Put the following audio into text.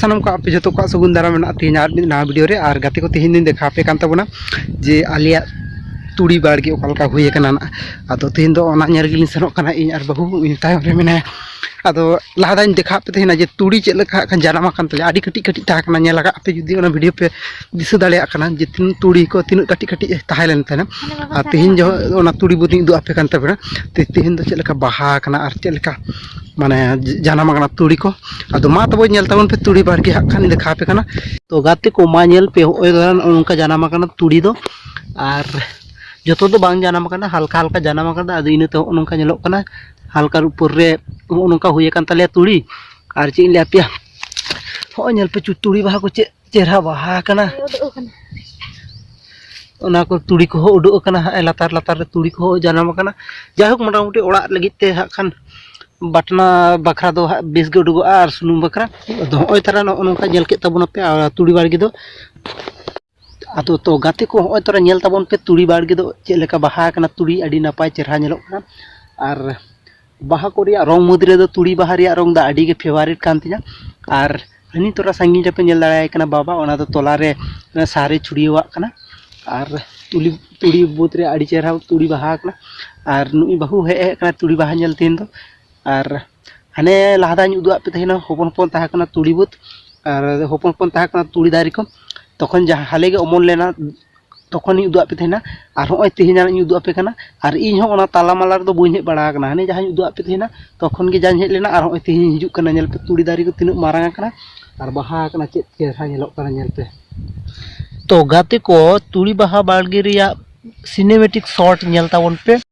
ᱥᱟᱱᱟᱢ ᱠᱚ ᱟᱯᱮ ᱡᱚᱛᱚ ᱠᱚᱣᱟᱜ ᱥᱟᱹᱜᱩᱱ ᱫᱟᱨᱟᱢ ᱢᱮᱱᱟᱜᱼᱟ ᱛᱮᱦᱮᱧ ᱟᱨ ᱢᱤᱫ ᱱᱟᱣᱟ ᱵᱷᱤᱰᱤᱭᱳ ᱨᱮ ᱟᱨ ᱜᱟᱛᱮ ᱠᱚ ᱛᱮᱦᱮᱧ ᱫᱚᱧ ᱫᱮᱠᱷᱟᱣ ᱟᱯᱮ ᱠᱟᱱ ᱛᱟᱵᱚᱱᱟ ᱡᱮ ᱟᱞᱮᱭᱟᱜ ᱛᱩᱲᱤ ᱵᱟᱲᱜᱮ ᱚᱠᱟ ᱞᱮᱠᱟ ᱦᱩᱭ ᱟᱠᱟᱱᱟ ᱱᱟᱜ ᱟᱫᱚ ᱛᱮᱦᱮᱧ ᱫᱚ ᱚᱱᱟ ᱧᱮᱞ ᱜᱮᱞᱤᱧ ᱥᱮᱱᱚᱜ ᱠᱟᱱᱟ ᱤᱧ ᱟᱨ ᱵᱟᱹᱦᱩ ᱤᱧ ᱛᱟᱭᱚᱢ ᱨᱮ ᱢᱮᱱᱟᱭᱟ ᱟᱫᱚ ᱞᱟᱦᱟ ᱫᱷᱟᱣ ᱤᱧ ᱫᱮᱠᱷᱟᱣ ᱯᱮ ᱛᱟᱦᱮᱱᱟ ᱡᱮ ᱛᱩᱲᱤ ᱪᱮᱫ ᱞᱮᱠᱟ ᱦᱟᱸᱜ ᱠᱷᱟᱱ ᱡᱟᱱᱟᱢ ᱟᱠᱟᱱ ᱛᱟᱞᱮᱭᱟ ᱟᱹᱰᱤ ᱠᱟᱹᱴᱤᱡ ᱠᱟᱹᱴᱤᱡ ᱛᱟᱦᱮᱸ ᱠᱟᱱᱟ ᱧᱮᱞ ᱟᱠᱟᱫ ᱯᱮ ᱡᱩᱫᱤ ᱚᱱᱟ ᱵᱷᱤᱰᱤᱭᱳ ᱯᱮ ᱫᱤᱥᱟᱹ ᱫᱟᱲᱮᱭᱟᱜ ᱠᱟᱱᱟ ᱡᱮ ᱛᱤᱱᱟᱹᱜ ᱛᱩᱲᱤ ᱠᱚ ᱛᱤᱱᱟᱹᱜ ᱠᱟᱹᱴᱤᱡ ᱠᱟᱹᱴᱤᱡ ᱛᱟᱦᱮᱸ ᱞᱮᱱ ᱛᱟᱦᱮᱱᱟ ᱟᱨ ᱛᱮᱦᱮᱧ ᱡᱚᱦᱚᱜ ᱚᱱᱟ ᱛᱩᱲᱤ ᱵᱩᱫᱤᱧ ᱩᱫᱩᱜ ᱟᱯᱮ ᱠᱟᱱ ᱛᱟᱵᱚᱱᱟ ᱛᱮᱦᱮᱧ ᱫᱚ ᱪᱮᱫ ᱞᱮᱠᱟ ᱵᱟᱦᱟ ᱟᱠᱟᱱᱟ ᱟᱨ ᱪᱮᱫ ᱞᱮᱠᱟ ᱢᱟᱱᱮ ᱡᱟᱱᱟᱢ ᱟᱠᱟᱱᱟ ᱛᱩᱲᱤ ᱠᱚ ᱟᱫᱚ ᱢᱟ ᱛᱚᱵᱮ ᱧᱮᱞ ᱛᱟᱵᱚᱱ ᱯᱮ ᱛᱩᱲᱤ ᱵᱟᱲᱜᱮ ᱦᱟᱸᱜ ᱠᱷᱟᱱ ᱫᱮᱠᱷᱟᱣ ᱯᱮ ᱠᱟᱱᱟ ᱛᱚ ᱜᱟᱛᱮ ᱠᱚ ᱢᱟ ᱧᱮᱞ ᱯᱮ ᱦᱚᱸᱜᱼᱚᱭ ᱱᱚᱝᱠᱟ ᱡᱟᱱᱟᱢ ᱟᱠᱟᱱᱟ ᱛᱩᱲᱤ ᱫᱚ ᱟᱨ ᱡᱚᱛᱚ ᱫᱚ ᱵᱟᱝ ᱡᱟᱱᱟᱢ ᱟᱠᱟᱱᱟ ᱦᱟᱞᱠᱟ ᱦᱟᱞᱠᱟ ᱡᱟᱱᱟᱢ ᱟᱠᱟᱱᱟ ᱟᱫᱚ ᱤᱱᱟᱹᱛᱮ ᱦᱚᱸᱜᱼᱚ ᱱᱚᱝᱠᱟ ᱧᱮᱞᱚᱜ ᱠᱟᱱᱟ ᱦᱟᱞᱠᱟ ᱩᱯᱚᱨ ᱨᱮ ᱦᱚᱸᱜᱼᱚ ᱱᱚᱝᱠᱟ ᱦᱩᱭ ᱟᱠᱟᱱ ᱛᱟᱞᱮᱭᱟ ᱛᱩᱲᱤ ᱟᱨ ᱪᱮᱫ ᱤᱧ ᱞᱟᱹᱭ ᱟᱯᱮᱭᱟ ᱦᱚᱸᱜᱼᱚᱭ ᱧᱮᱞ ᱯᱮ ᱛᱩᱲᱤ ᱵᱟᱦᱟ ᱠᱚ ᱪᱮᱫ ᱪᱮᱦᱨᱟ ᱵᱟᱦᱟ ᱟᱠᱟᱱᱟ ᱚᱱᱟ ᱠᱚ ᱛᱩᱲᱤ ᱠᱚᱦᱚᱸ ᱩᱰᱩᱠ ᱟᱠᱟᱱᱟ ᱦᱟᱸᱜ ᱞᱟᱛᱟᱨ ᱞᱟᱛᱟᱨ ᱨᱮ ᱛᱩᱲᱤ ᱠᱚᱦᱚᱸ ᱡᱟᱱᱟᱢ ᱟᱠᱟᱱᱟ ᱡᱟᱭᱦᱳᱠ ᱢᱚᱴᱟᱢᱩᱴᱤ ᱚᱲᱟᱜ ᱞᱟᱹᱜᱤᱫ ᱛᱮ ᱦᱟᱸᱜ ᱠᱷᱟᱱ ᱵᱟᱴᱱᱟ ᱵᱟᱠᱷᱨᱟ ᱫᱚ ᱦᱟᱸᱜ ᱵᱮᱥ ᱜᱮ ᱩᱰᱩᱠᱚᱜᱼᱟ ᱟᱨ ᱥᱩᱱᱩᱢ ᱵᱟᱠᱷᱨᱟ ᱟᱫᱚ ᱦᱚᱸᱜᱼᱚᱭ ᱛᱟᱨᱟ ᱱᱚᱜᱼᱚ ᱱᱚᱝᱠᱟ ᱧᱮᱞ ᱠᱮᱫ ᱛᱟᱵᱚᱱᱟ ᱯᱮ ᱟᱨ ᱛᱩᱲᱤ ᱵᱟᱲᱜᱮ ᱫᱚ ᱟᱫᱚ ᱛᱚ ᱜᱟᱛᱮ ᱠᱚ ᱦᱚᱸᱜᱼᱚᱭ ᱛᱟᱨᱟ ᱧᱮᱞ ᱛᱟᱵᱚᱱ ᱯᱮ ᱛᱩᱲᱤ ᱵᱟᱲᱜᱮ ᱫᱚ ᱪᱮᱫ ᱞᱮᱠᱟ ᱵᱟᱦᱟ ᱟᱠᱟᱱᱟ ᱛᱩᱲᱤ ᱟᱹᱰᱤ ᱱᱟᱯᱟᱭ ᱪᱮᱦᱨᱟ ᱧᱮᱞᱚᱜ ᱠᱟᱱᱟ ᱟᱨ ᱵᱟᱦᱟ ᱠᱚ ᱨᱮᱭᱟᱜ ᱨᱚᱝ ᱢᱩᱫᱽ ᱨᱮᱫᱚ ᱛᱩᱲᱤ ᱵᱟᱦᱟ ᱨᱮᱭᱟᱜ ᱨᱚᱝ ᱫᱚ ᱟᱹᱰᱤ ᱜᱮ ᱯᱷᱮᱵᱟᱨᱮᱴ ᱠᱟᱱ ᱛᱤᱧᱟ ᱟᱨ ᱦᱟᱹᱱᱤ ᱛᱚᱨᱟ ᱥᱟᱺᱜᱤᱧ ᱨᱮᱯᱮ ᱧᱮᱞ ᱫᱟᱲᱮᱭᱟᱭ ᱠᱟᱱᱟ ᱵᱟᱵᱟ ᱚᱱᱟ ᱫᱚ ᱛᱚᱞᱟ ᱨᱮ ᱥᱟᱨᱮ ᱪᱷᱩᱲᱭᱟᱹᱣᱟᱜ ᱠᱟᱱᱟ ᱟᱨ ᱛᱩᱞᱤ ᱛᱩᱲᱤ ᱵᱟᱹᱫᱽ ᱨᱮ ᱟᱹᱰᱤ ᱪᱮᱦᱨᱟ ᱛᱩᱲᱤ ᱵᱟᱦᱟ ᱠᱟᱱᱟ ᱟᱨ ᱱᱩᱭ ᱵᱟᱹᱦᱩ ᱦᱮᱡ ᱦᱮᱡ ᱠᱟᱱᱟ ᱛᱩᱲᱤ ᱵᱟᱦᱟ ᱧᱮᱞ ᱛᱮᱦᱮᱧ ᱫᱚ ᱟᱨ ᱦᱟᱱᱮ ᱞᱟᱦᱟ ᱫᱷᱟᱣ ᱤᱧ ᱩᱫᱩᱜ ᱟᱫ ᱯᱮ ᱛᱟᱦᱮᱱᱟ ᱦᱚᱯᱚᱱ ᱦᱚᱯᱚᱱ ᱛᱟᱦᱮᱸ ᱠᱟᱱᱟ ᱛᱩᱲᱤ ᱵᱟᱹᱫᱽ ᱟᱨ ᱦᱚᱯᱚᱱ ᱦᱚᱯᱚᱱ ᱛᱟᱦᱮᱸ ᱠᱟᱱᱟ ᱛᱩᱲᱤ ᱫᱟᱨᱮ ᱠᱚ ᱛᱚᱠᱷᱚᱱ ᱡᱟᱦᱟᱸ ᱦᱟᱞᱮ ᱜᱮ ᱚᱢᱚᱱ ᱞᱮᱱᱟ ᱛᱚᱠᱷᱚᱱᱤᱧ ᱩᱫᱩᱜ ᱟᱫ ᱯᱮ ᱛᱟᱦᱮᱱᱟ ᱟᱨ ᱦᱚᱸᱜᱼᱚᱭ ᱛᱮᱦᱮᱧᱟᱜ ᱤᱧ ᱩᱫᱩᱜ ᱟᱯᱮ ᱠᱟᱱᱟ ᱟᱨ ᱤᱧ ᱦᱚᱸ ᱚᱱᱟ ᱛᱟᱞᱟ ᱢᱟᱞᱟ ᱨᱮᱫᱚ ᱵᱟᱹᱧ ᱦᱮᱡ ᱵᱟᱲᱟ ᱟᱠᱟᱱᱟ ᱦᱟᱱᱮ ᱡᱟᱦᱟᱸᱧ ᱩᱫᱩᱜ ᱟᱫ ᱯᱮ ᱛᱟᱦᱮᱱᱟ ᱛᱚᱠᱷᱚᱱ ᱜᱮ ᱡᱟᱧ ᱦᱮᱡ ᱞᱮᱱᱟ ᱟᱨ ᱦᱚᱸᱜᱼᱚᱭ ᱛᱮᱦᱮᱧᱤᱧ ᱦᱤᱡᱩᱜ ᱠᱟᱱᱟ ᱧᱮᱞ ᱯᱮ ᱛᱩᱲᱤ ᱫᱟᱨᱮ ᱠᱚ ᱛᱤᱱᱟᱹᱜ ᱢᱟᱨᱟᱝ ᱟᱠᱟᱱᱟ ᱟᱨ ᱵᱟᱦᱟ ᱟᱠᱟᱱᱟ ᱪᱮᱫ ᱪᱮᱦᱨᱟ ᱧᱮᱞᱚᱜ ᱠᱟᱱᱟ ᱧᱮᱞ ᱯᱮ ᱛᱚ ᱜᱟᱛᱮ ᱠᱚ ᱛᱩᱲᱤ ᱵᱟᱦᱟ ᱵᱟᱲᱜᱮ ᱨᱮᱭᱟᱜ ᱥᱤᱱᱮᱢᱮᱴᱤᱠ ᱥᱚᱴ ᱧᱮᱞ ᱛᱟᱵᱚᱱ ᱯᱮ